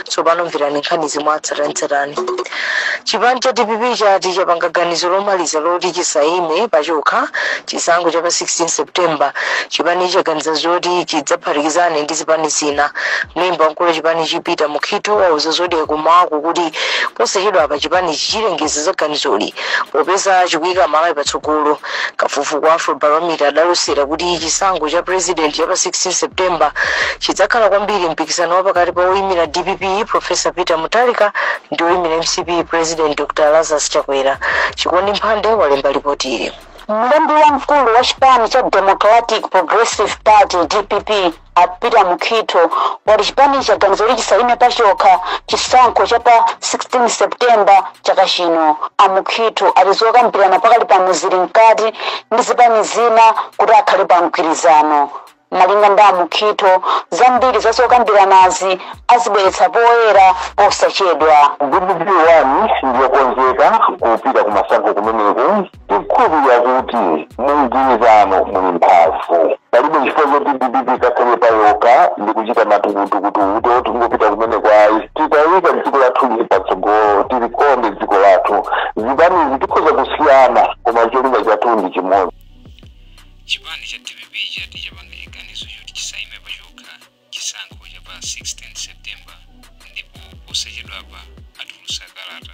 tsopano mverani nkhanizi mwatsatanetsatane chipani cha dpp chati chapanga ganizo lomaliza loti chisaime pachokha chisankho cha pa 16 september chipanichi chaganiza zoti chidzaphatikizane ndi zipani zina mlembi wamkulu wa chipanichi peter mukhitho wauza zodiak kumawaku kuti posachedwa apa chipani chichilengeza za ganizoli popeza chikuyika malawi patsogolo Kafukufuku wa Afrobarometer adalosera kuti chisankho cha purezidenti cha pa 16 September chidzakhala kwambiri mpikisano wa pakati pa woimira dpp Professor Peter Mutharika ndi woimira mcp President Dr Lazarus Chakwera. Chikondi Mphande walemba lipotili. Mlembi wamkulu wa chipani cha Democratic Progressive Party, dpp, a Peter Mukhitho wati chipanichi chaganiza kuti chisayime pachokha chisankho cha pa 16 September chaka chino. A Mukhitho ati zokambirana pakali pano zili mkati ndi zipani zina kuti akhale pa mgwirizano. Malinga ndi a Mukhitho, zambiri za zokambiranazi azibweretsa poyera posachedwa. dpp ndiyokonzeka kupita kumasankho kumeneko tikukhulupirira kuti mu mgwirizano muli mphamvu palibe chifukwa choti dpp ikakhale payokha ndi kuchita matukutukutu oti tingopita kumeneko ayi titayika dziko lathu ili patsogolo tilikonde dziko lathu zipanizi tikhoza kusiyana koma cholinga chathu ndi chimodzi chipani cha dpp chati chapanga chiganizo choti chisaime pachokha chisankho cha pa 16 september ndipo posachedwapa atulutsa kalata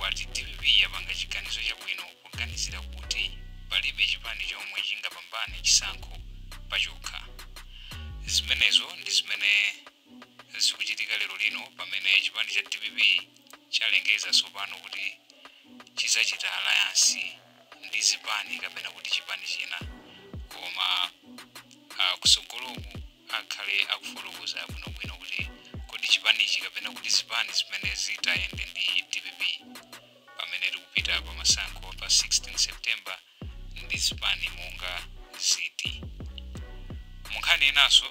wati dpp yapanga chiganizo chabwino poganizira kuti palibe chipani chomwe chingapambane chisankho pachokha. Zimenezo ndi zimene zikuchitika lero lino pamene chipani cha dpp chalengeza tsopano kuti chidzachita alayansi ndi zipani kapena kuti chipani china koma ah, kusogoloku akhale akufotokoza bwinobwino kuti kodi chipanichi kapena kuti zipani zimene zitayende ndi dpp pamene tikupita pa masankho pa 16 september ndi zipani monga ziti munkhani inanso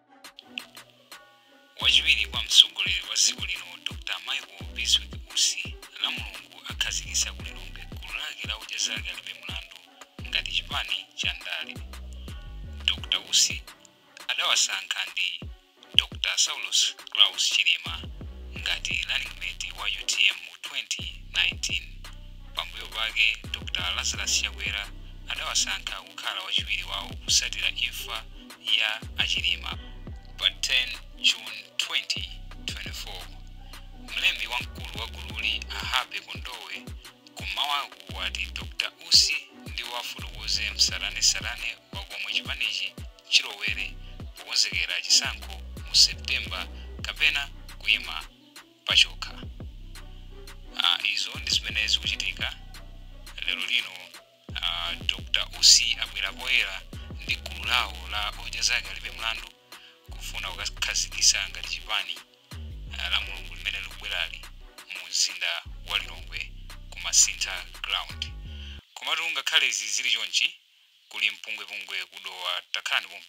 wachiwiri kwa mtsogoleri wa dziko lino dr michael biswick usi lamulungu akhazikitsa ku lilongwe gulu lake la odya zake alibe mlandu ngati chipani cha ndale dr usi adawasankha ndi dr saulos claus chilima ngati running mate wa utm mu 2019 pambuyo pake dr lazarus chakwera adawasankha kukhala wachiwiri wawo kusatira imfa ya a Chilima pa 10 June 2024. Mlembi wamkulu wa gululi a Happy Kondowe kum'mawaku wati Dr Usi ndiwo afotokoze msatanetsatane wa komwe chipanichi chilowere pokonzekera chisankho mu September kapena kuima pachokha. Ah, izo ndi zimene zikuchitika lero lino A Dr Usi abwera poyera ndi gulu lawo la odya zake alibe mlandu kufuna kukakhazikisa ngati chipani ah, la mulungu limene likubwerali mu mzinda wa Lilongwe ku Masintha ground. Komatu ngakhale izi zili chonchi kuli mpungwepungwe ku Dowa takhalani pompo.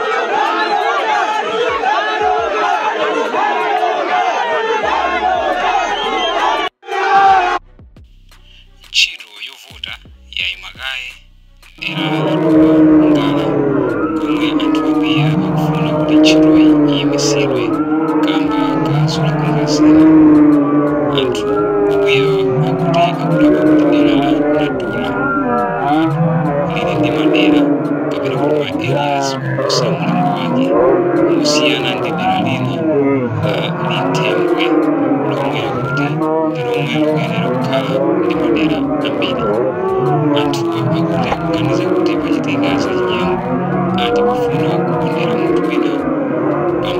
ntchito yovota yaima kaye m'dera la Dowa Ngala komwe anthu akwiya akufuna kuti ntchitoyi iyimitsidwe kamba ka zolakwika zina. Anthu akwiyawa akuti akudabwa kuti dera la lili ndi madera kapena kuti ma areas oposa mulingo wake kusiyana ndi dera lina uh, linthembwe lomwe akuti ndi lomwe likuyenera kukhala ndi madera ambiri anthuwa akuti akuganiza kuti pachitika zachinyengo ati kufuna kukondera munthu wina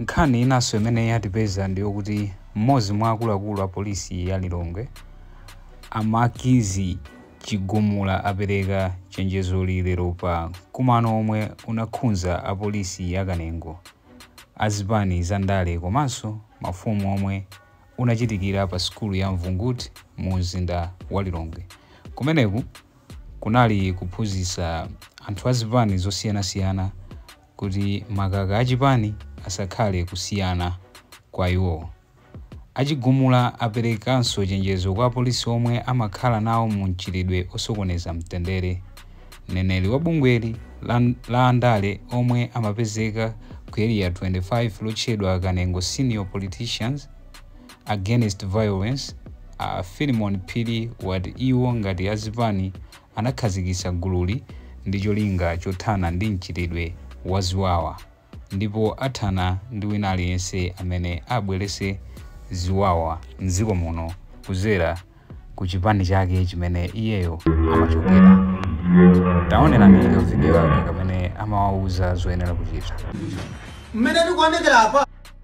nkhani inanso imene yatipeza ndi yokuti mmodzi mwa akuluakulu a polisi ya lilongwe a makizi chigumula apereka chenjezoli lero pa mkumano omwe unakhudza apolisi ya kanengo a zipani za ndale komanso mafumu omwe unachitikira pa sukulu ya Mvunguti mu mzinda wa Lilongwe. Kumeneku kunali kuphunzitsa anthu a zipani zosiyanasiyana kuti makaka a chipani asakhale kusiyana kwa iwowo. A Chigumula aperekanso chenjezo kwa apolisi omwe amakhala nawo mu mchitidwe osokoneza mtendere. Mneneri wa bungweli la andale omwe amapezeka ku Area 25 lotchedwa Kanengo Senior Politicians Against Violence a Philimon Phiri wati iwo ngati azipani anakhazikitsa gululi ndi cholinga chothana ndi mchitidwe wa ziwawa. ndipo athana ndi wina aliyense amene abweretse ziwawa mdziko muno kudzera ku chipani chake chimene iyeyo amachokera. Taonelani ka video aka kamene amawauza zoyenera kuchita. mmene tikuonekera apa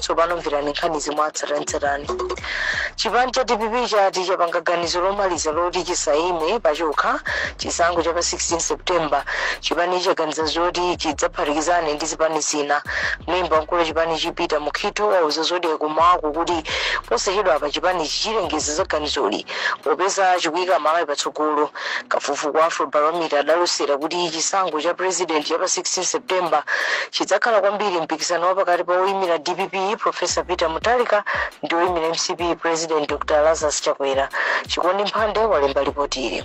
tsopano mverani nkhanizi mwatsatanetsatane chipani cha dpp chati chapanga ganizo lomaliza loti chisayime pachokha chisankho cha pa 16 september chipanichi chaganiza zoti chidzaphatikizane ndi zipani zina mlembi wamkulu wa chipanichi peter mukhitho wauza zodiak mmawawu kuti posachedwa apa chipanichi chilengeza za ganizoli Popeza chikuika Malawi patsogolo, kafukufuku wa Afrobarometer adalosera kuti chisankho cha pulezidenti cha pa 16 September chidzakhala kwambiri mpikisano wa pakati pa woimira dpp Professor Peter Mutharika ndi woimira mcp President Dr Lazarus Chakwera. Chikondi Mphande walemba lipoti ili.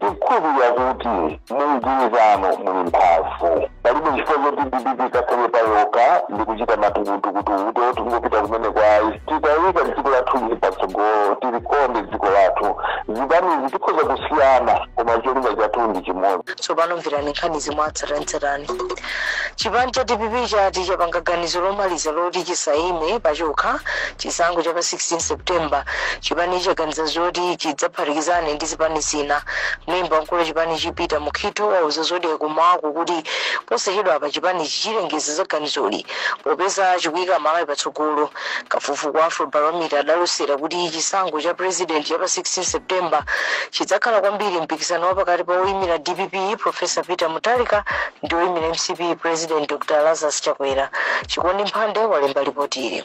Tikukhulupilira kuti mu mgwirizano muli mphamvu. Palibe chifukwa choti dpp ikakhale payokha ndi kuchita matukutukutu kuti tikungopita kumeneko ayi. Titaika dziko lathu ili patsogolo tilikonde dziko lathu. Zipanizi tikhoza kusiyana koma cholinga chathu ndi chimodzi. Tsopano mverani nkhanizi mwatsatanetsatane. Chipani cha dpp chati chapanga ganizo lomaliza loti chisayime pachokha chisankho cha pa 16 September. Chipanichi chaganiza zoti chidzaphatikizane ndi zipani zina mlembi wamkulu wa chipanichi peter mukhitho wauza zodiak kummawaku kuti posachedwa apa chipanichi chilengeza za ganizoli popeza chikuyika malawi patsogolo kafukufuku wa afrobarometer adalosera kuti chisankho cha president cha pa 16 september chidzakhala kwambiri mpikisano wa pakati pa oyimira dpp professor peter mutharika ndi oyimira mcp president dr lazarus chakwera chikondi mphande walemba lipoti ili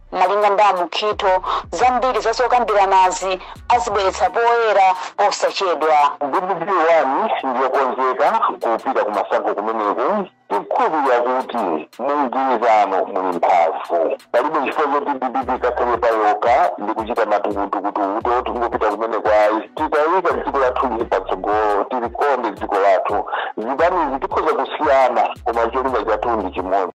Malinga ndi a Mukhitho, zambiri za zokambiranazi azibweretsa poyera posachedwa. Dpp 1 ndiyokonzeka kupita kumasankho kumeneku tikukhulupirira kuti mumgwirizano muli mphamvu palibe chifukwa choti dpp ikakhale payokha ndi kuchita matukutukutu kuti tikungopita kumeneko ayi titaika dziko lathu ili patsogolo tilikonde dziko lathu zipanizi tikhoza kusiyana koma cholinga chathu ndi chimodzi